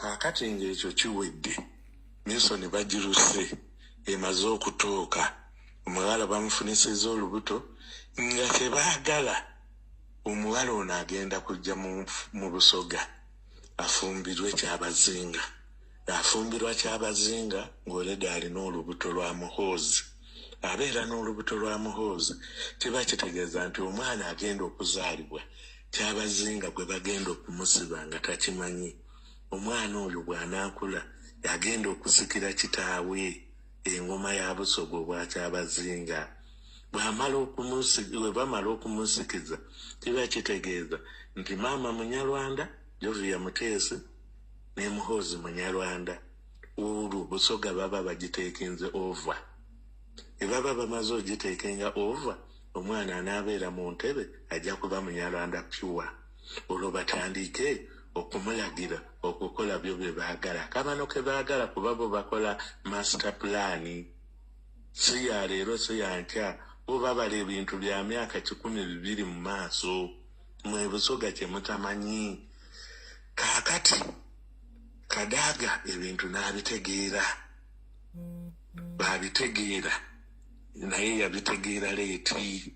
kaakati ng'ekyo kiwedde minsoni bagiruse emaze okutuuka omuwala bamufunisizza olubuto nga kyebaagala omuwala ono agenda kujja mu busoga afumbirwe kyabazinga afumbirwa kyabazinga ng'oleda alina olubuto lwa muhoozi abeera n'olubuto lwa muhoozi kiba kitegeeza nti omwana agenda okuzaalibwa Kyabazinga gwe bagenda okumusiba nga takimanyi. Omwana oyo bw'anaakula agenda okusikira kitaawe engoma ya Busoga obwa Kyabazinga. Bw'amala okumusi-, bwe bamala okumusikiza kiba kitegeeza nti maama Munyarwanda, Jovia Muteesi ne Muhoozi Munyarwanda. Olwo Busoga baba bagiteekinze over. Bwe baba bamaze ogiteekinga over, Omwana anaabeera mu ntebe ajja kuba Munyarwanda pure olwo batandiike okumulagira okukola byo bye baagala. Kabano ke baagala kuba bo bakola master plan. Si ya leero si ya nkya bo babala ebintu bya myaka kikumi bibiri mu maaso. Mwe Busoga kye mutamanyi. Kaakati Kadaga ebintu n'abitegeera. Baabitegeera naye yabitegeera leeti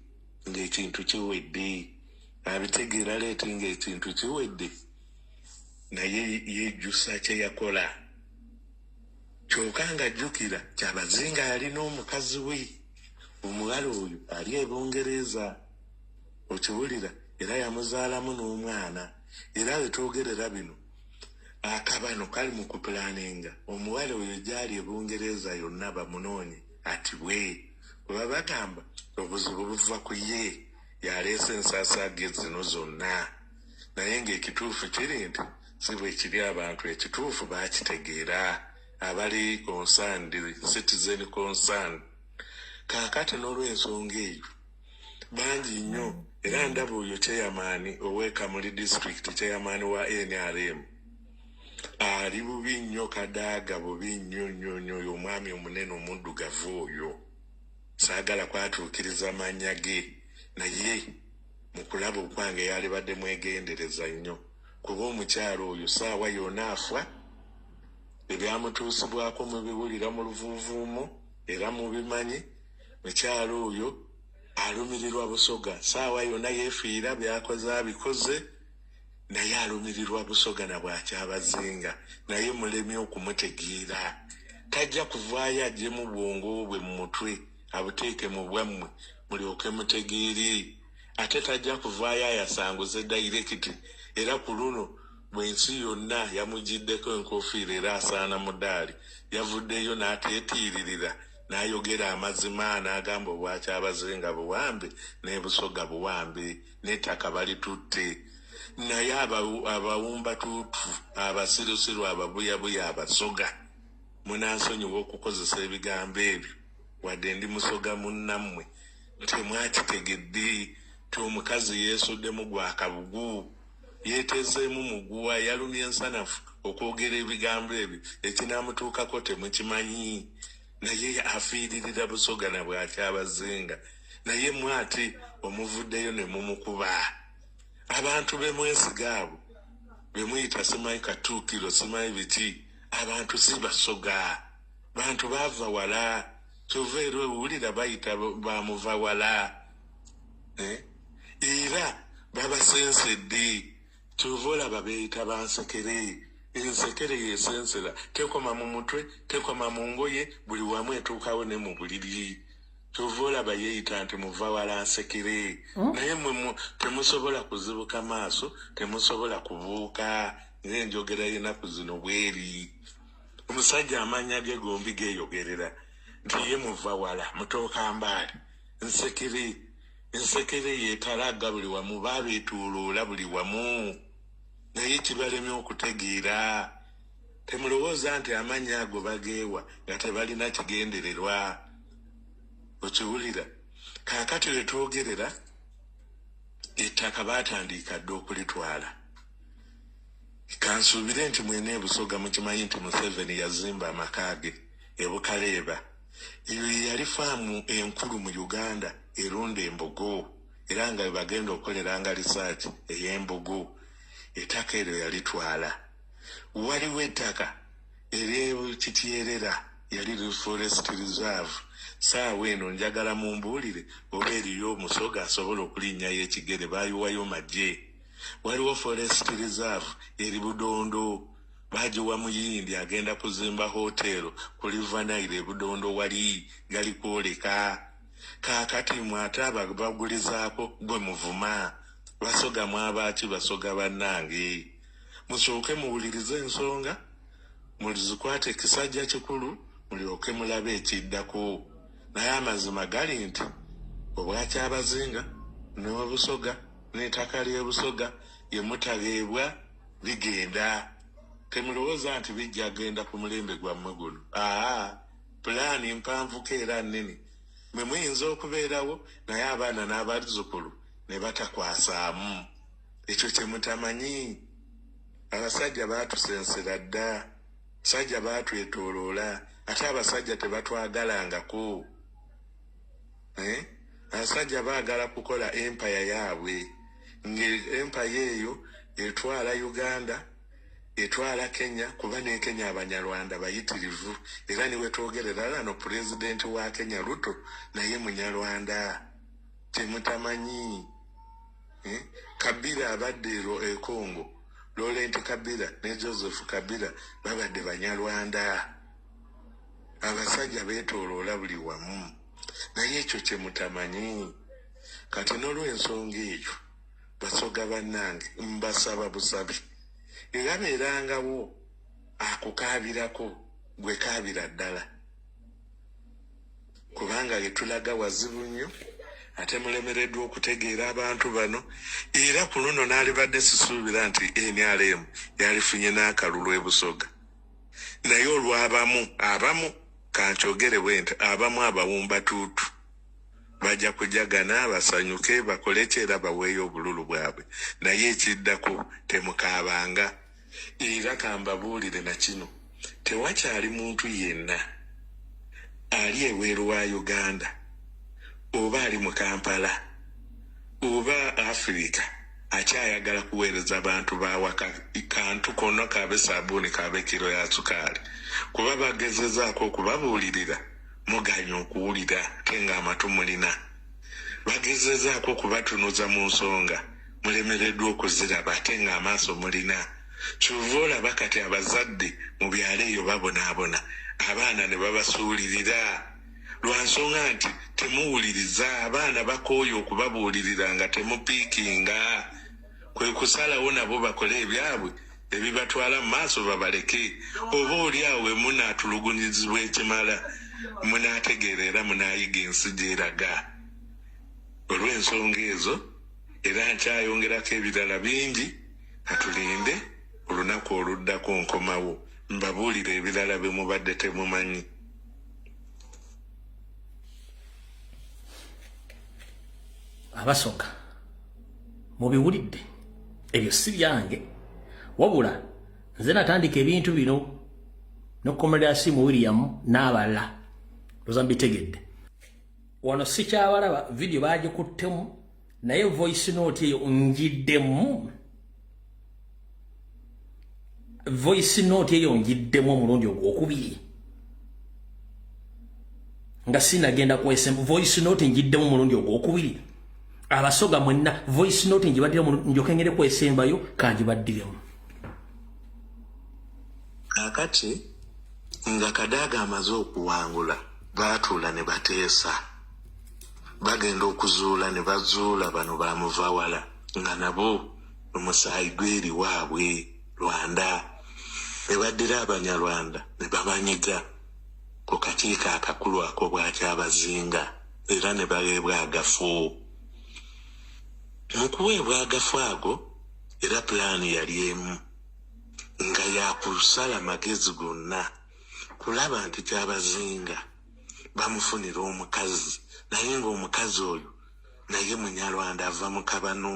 ng'ekintu kiwedde abitegeera leeti ng'ekintu kiwedde naye yejjusa kye yakola kyoka ng'ajjukira kyabazinga yalina omukazi we omuwala oyo ali e bungereza okiwulira era yamuzaalamu n'omwana era wetwogerera bino akabano kali mu kupulaninga omuwala oyo gyali e bungereza yonna bamunoonye atibwe kuba bagamba obuzibu buva ku ye yaleese ensaasaage zino zonna naye ng'ekituufu kiri nti si bwe kiri abantu ekituufu baakitegeera abali concerned citizen concern kaakati n'olw'ensonga eyo bangi nnyo era ndaba oyo kyeyamaani owekamuli district kyeyamaani wa nrm ali bubi nnyo kadaaga bubi nnyo nnyo nnyo oyo omwami omunene omuddugavu oyo saagala kwatuukiriza mannya ge naye mu kulaba okwange yalibadde mwegendereza nnyo kuba omukyalo oyo saawa yona afa ebyamutuusibwako mubiwulira mu luvuuvuumo era mubimanyi Mukyala oyo alumirirwa Busoga saawa yona yefiira byakoze abikoze naye alumirirwa Busoga na bwakyabazinga naye mulemye okumutegeera tajja kuvaayo ajjemu bwongo bwe mu mutwe abuteeke mu bwammwe mulyoke mutegeere ate tajja kuvaayo ayasanguze dayirekiti era ku luno bwensi yonna yamugiddeko enkofiira era asaana mudaali yavuddeyo n'ateetiiririra n'ayogera amazima n'agamba obwakyabazinga buwambe n'ebusoga buwambe n'ettaka balitutte naye abawumbatuutu abasirusiru ababuyabuya abasoga munansonyiwa okukozesa ebigambo ebyo wadde ndi musoga munnammwe temwakitegedde ti omukazi yeesuddemu gwakabugu Yeetezeemu muguwa, yalumye nsanafu okwogera ebigambo ebyo, ekinaamutuukako temukimanyi. Naye afiiririra Busoga na bw'akyabazinga, naye mmwe ate omuvuddeyo ne mumukuba. Abantu be mwesiga abo be muyita simanyi Katuukiro simanyi biki, abantu si Basoga, bantu baava wala kyova era owulira bayita ba muvawala. Eh? era babasensedde kyova olaba beeyita bansekere ensekere yesensera tekoma mu mutwe tekoma mu ngoye buli wamu etuukawo ne mu buliri kyova olaba yeeyita nti muva wala nsekere hmm? naye mwe temusobola kuzibuka maaso temusobola kubuuka ngaenjogera yenaku zino bweri omusajja amaanya ge gombi geeyogerera nti ye muva wala mutooka mbaali nsekere Ensekere ye etalagga buli wamu, babeetooloola buli wamu, naye kibalemye okutegeera. Temulowooza nti amannya ago bageewa nga tebalina kigendererwa. Okiwulira? Kaakati we twogerera, ettaka baatandiika dda okulitwala. Kansuubire nti mwena e Busoga mukimanyi nti Museveni yazimba amaka ge e Bukaleeba. eyo yeyali faamu enkulu mu uganda erunda embogo era nga webagenda okukoleranga risaaki ey'embogo ettaka eryo yalitwala waliwo ettaka eryekityeerera yali reforest reserve saawa eno njagala mumbuulire oba eriyo omusoga asobola okulinnyayo ekigere baayiwayo magye waliwo forest reserve eri budondo Baagiwa Muyindi agenda kuzimba hoteero ku River Nile e Budondo wali gali kwoleka. Kaakati mmwe ate ababagulizaako gwe muvuma? Basoga mwaba ki Basoga bannange? Musooke muwulirize ensonga, muzikwate kisajja kikulu mulyoke mulabe ekiddako. Naye amazima gali nti Obwakyabazinga n'e Busoga n'etaka ly'e Busoga ye mutabeebwa. bigenda temulowooza nti bijja genda ku mulembe gwammwe guno aa pulaani mpanvuko era nnene mwe muyinza okubeerawo naye abaana n'abazzukulu ne batakwasaamu ekyo kye mutamanyi abasajja baatusensera dda sajja baatwetooloola ate abasajja tebatwagalangako eh? abasajja baagala kukola empaya yaabwe ngaempaya eyo etwala uganda etwala kenya kuba nekenya abanyarwanda bayitirivu era niwetwogerera lano pulezidenti wa kenya ruto naye munyarwanda temutamanyi eh? kabira abadde ero ekongo lolenti kabira ne joseph kabira babadde banyarwanda Abasajja beetooloola buli wamu, naye ekyo kye mutamanyi. Kati n'olw'ensonga eyo, Basoga bannange, mbasaba busabi, eyabeerangawo akukaabirako, ggwe kaabira ddala kubanga ye tulaga wazibu nnyo ate mulemereddwa okutegeera abantu bano era ku luno n'alibadde sisuubira nti nrm yalifunye n'akalulu e Busoga. Naye olw'abamu, abamu, ka nkyogere bwenti, abamu abawumbatuutu, baja kujagana, basanyuke, bakole ki, era baweeyo obululu bwabwe. Naye ekiddako, temukaabanga. Era ka mbabuulire na kino, tewakyali muntu yenna ali ebweru wa Uganda, oba ali mu Kampala, oba Afirika, akyayagala kuweereza bantu bawaka kantu konna kaabe saabuuni kaabe kiro ya sukaali kuba bagezezaako okubabuulirira muganya okuwulira te ng'amatu mulina bagezezaako okubatunuza mu nsonga mulemereddwa okuziraba ate ng'amaaso mulina kyova olaba kati abazadde mu byalo eyo babonaabona abaana ne babasuulirira lwa nsonga nti temuwuliriza abaana bakooye okubabuulirira nga temupiikinga kwe kusalawo nabo bakole ebyabwe ebibatwala mu maaso babaleke oba oli awo wemunaatulugunyizibwa ekimala munaategeera era munaayiga ensi gyeraga olw'ensonga ezo era nkyayongerako ebirala bingi katulinde olunaku oluddako nkomawo mbabuulire ebirala bye mubadde temumanyi abasoka mubiwulidde ebyo si byange wabula nze natandika ebintu bino nokomera asimu william n'abalala oza mbitegedde wano sikyabalaba vidiyo bagikuttemu naye voice note eyo njiddemu voice note eyo njiddemu omulundi ogwokubiri nga sinagenda kwesem voice note njiddemu omulundi ogwokubiri abasoga mwenna voice note njibaddire njoke ngere kwesembayo kanjibaddiremu kakati nga kadaaga amaze okuwangula baatuula ne bateesa bagenda okuzuula ne bazuula bano bamuvawala nga nabo omusaayi gweri waabwe rwanda ne baddira abanyarwanda ne babanyiga ku kakiiko akakulu ako bwakyabazinga era ne baweebwa agafu mu kuweebwa agafu ago era pulaani yali emu nga yakusala magezi gonna kulaba nti kyabazinga bamufunira omukazi naye nga omukazi oyo naye munyarwanda ava mu kabano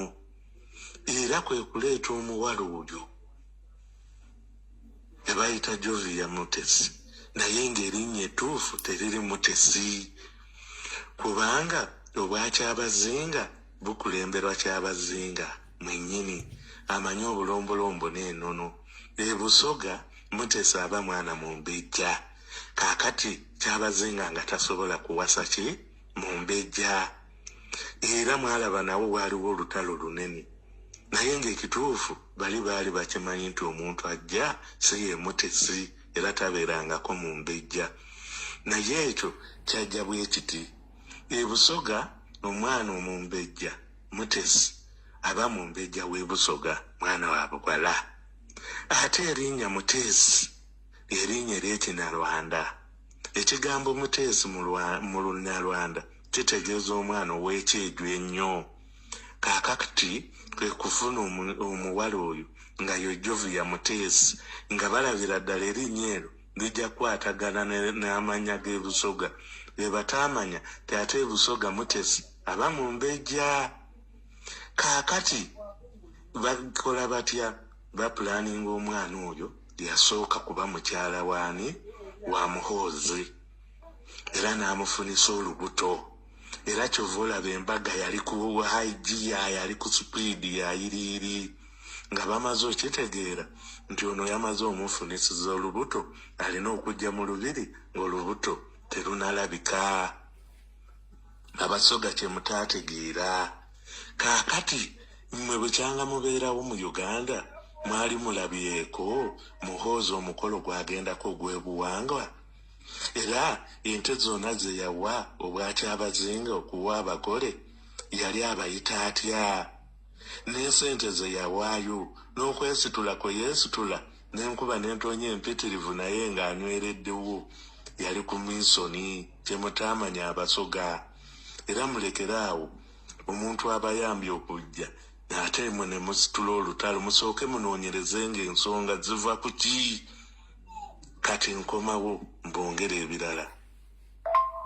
era kwe kuleeta omuwala oyo ne bayita jovia mutesi naye ng'erinnya ettuufu teriri mutesi kubanga obwakyabazinga bukulemberwa kyabazinga mwennyini amanyi obulombolombo n'enono ebusoga mutesa aba mwana mumbejja kakati kyabazinga nga tasobola kuwasa ki mumbejja era mwalaba nawo waaliwo olutalo lunene naye ngaekituufu bali baali bakimanyi nti omuntu ajja si yemutesi era tabeerangako mu mbejja naye ekyo kyajja bwekiti ebusoga omwana omumbejja mutesi aba mumbejja webusoga mwana wa bugwala ate erinya mutesi Erinnya ery'Ekinyarwanda. Ekigambo Muteesi mu lwa mu Lunyarwanda kitegeeza omwana ow'ekyejo ennyo. Kaakakti kwe kufuna omu omuwala oyo nga ye Jovia Muteesi nga balabira ddala erinnya eryo lijja kukwatagana ne n'amannya g'e Busoga be bataamanya nti ate e Busoga Mutesi aba Mumbejja. Kaakati bakola batya? Bapulaaninga omwana oyo. Yasooka kuba mukyala waani? Wa Muhoozi era n'amufunisa olubuto era kyova olaba embaga yali ku haigiya yali ku sipiidi yayiriiri nga bamaze okitegeera nti ono yamaze omufunisiza olubuto alina okujja mu lubiri ng'olubuto terunalabika. abasoga kyemutategeera kaakati mmwe bukyanga mubeerawo mu uganda mwali mulabyeko muhoozi omukolo gwagendako ogw'ebuwangwa era ente zonna ze yawa obwakyabazinga okuwa abagole yali abayita atya n'esente ze yawaayo n'okwesitula kwe yeesitula n'enkuba n'entoonya empitirivu naye ng'anywereddewo yali ku minsoni kyemutaamanya abasoga era mulekere awo omuntu abayambye okujja ate mwe ne musitula olutalo musooke munoonyereze nga ensonga ziva ku ki kati nkomawo mbongere ebirala